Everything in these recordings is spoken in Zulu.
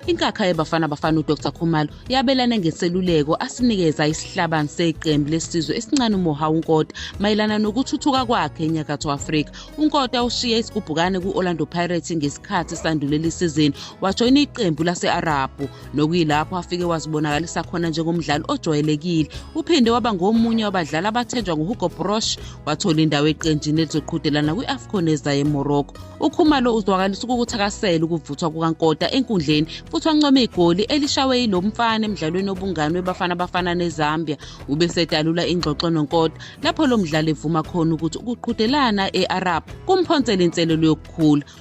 Inkakha yeBafana Bafana uDr Khumalo yabelane ngeseluleko asinikeza isihlabani seqembu lesizwe esincane uMoha uNkota mayelana nokuthuthuka kwakhe eNyakatho Afrika. UNkota ushiye isigubhukane ku-Orlando Pirates ngesikhathi sandulela isizini wajoyina iqembu lase-Arabhu. nokuyilapho afike wazibonakalisa khona njengomdlali ojwayelekile uphinde waba ngomunye wabadlali abathenjwa nguhugo brosh wathola indawo eqenjini elizoqhudelana kwi-afcon ezayo emorocco ukhumalo uzwakalisa ukukuthakasela ukuvuthwa kukankota enkundleni futhi wancome igoli elishawe yilo mfana emdlalweni obungani webafana bafana nezambia ubesedalula ingxoxo nonkota lapho lo mdlali evuma khona ukuthi ukuqhudelana e-arab kumphonsela inselelo yokukhula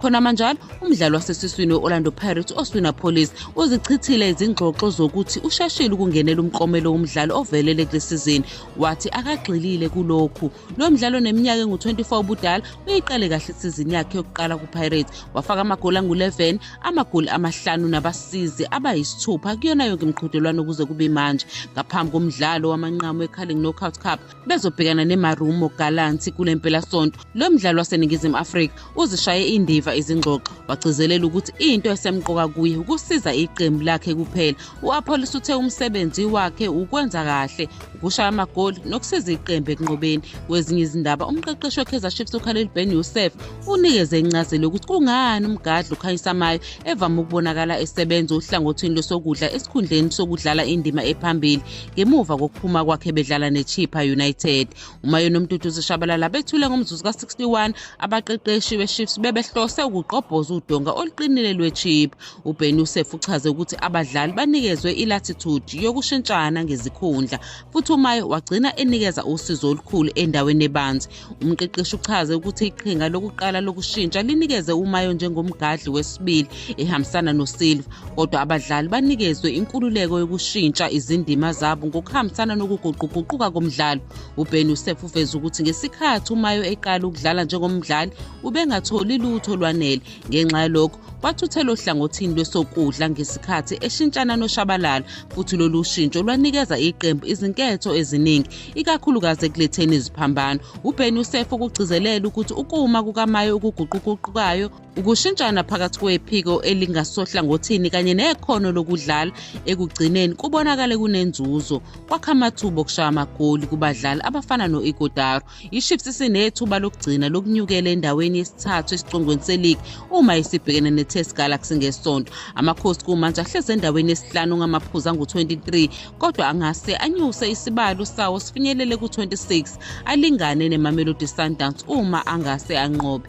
khona manjalo umdlali wasesiswini we-orlando pirates oswina police uzichithile izingxoxo zokuthi ushashile ukungenela umklomelo womdlali ovelele kule sizini wathi akagxilile kulokhu lo mdlalo neminyaka engu-24 ubudala uyiqale kahle isizini yakhe yokuqala kupirates wafaka amagoli angu-11 amagoli amahlanu nabasizi abayisithupha kuyona yonke imiqhudelwano ukuze kube manje ngaphambi komdlalo wamanqamu we-carling knockout cup bezobhekana nemarumo galanti kule mpelasonto lo mdlali waseningizimu afrika uzishaye indiva izingxoxo wagcizelela ukuthi into esemqoka kuye ukusiza iqembu lakhe kuphela u-apollos uthe umsebenzi wakhe ukwenza kahle ukushaya amagoli nokusiza iqembu ekunqobeni kwezinye izindaba umqeqeshi wekaizer chiefs ukhaleli ben yosef unikeze incazelo yokuthi kungani umgadli ukhanyisamayo evame ukubonakala esebenza ohlangothini losokudla esikhundleni sokudlala indima ephambili ngemuva kokuphuma kwakhe bedlala nechipha united umayoni umtutu zishabalala bethule ngomzuzu ka-61 abaqeqeshi bechiefs bebehlose ukugqobhoza udonga oluqinile lwechipha uben usef uchaze ukuthi abadlali banikezwe ilatitude yokushintshana ngezikhundla futhi umaye wagcina enikeza usizo olukhulu endaweni ebanzi umqeqeshi uchaze ukuthi iqhinga lokuqala lokushintsha linikeze umayo njengomgadli wesibili ehambisana nosilva kodwa abadlali banikezwe inkululeko yokushintsha izindima zabo ngokuhambisana nokuguquguquka komdlalo uben usef uveze ukuthi ngesikhathi umayo eqala ukudlala njengomdlali ubengatholi lutho olwanele ngenxa yalokho wathuthelwa ohlangothini lwesokudla ngesikhathi eshintshana noshabalala futhi lolu shintsho lwanikeza iqembu izinketho eziningi ikakhulukazi ekuletheni iziphambano ubeni usef ukugcizelela ukuthi ukuma kukamayo okuguquguqukayo ukushintshana phakathi kwephiko elingasohlangothini kanye nekhono lokudlala ekugcineni kubonakale kunenzuzo kwakha amathuba okushaya amagoli kubadlali abafana no-igodaro IChiefs isinethuba lokugcina lokunyukela endaweni yesithathu esicongweni seligi uma isibhekene neTest Galaxy ngesonto. Amakhosi kumanje ahlezi endaweni yesihlanu ngamaphuzu angu-23 kodwa angase anyuse isibalo sawo sifinyelele ku-26 alingane neMamelodi Sundowns uma angase anqobe.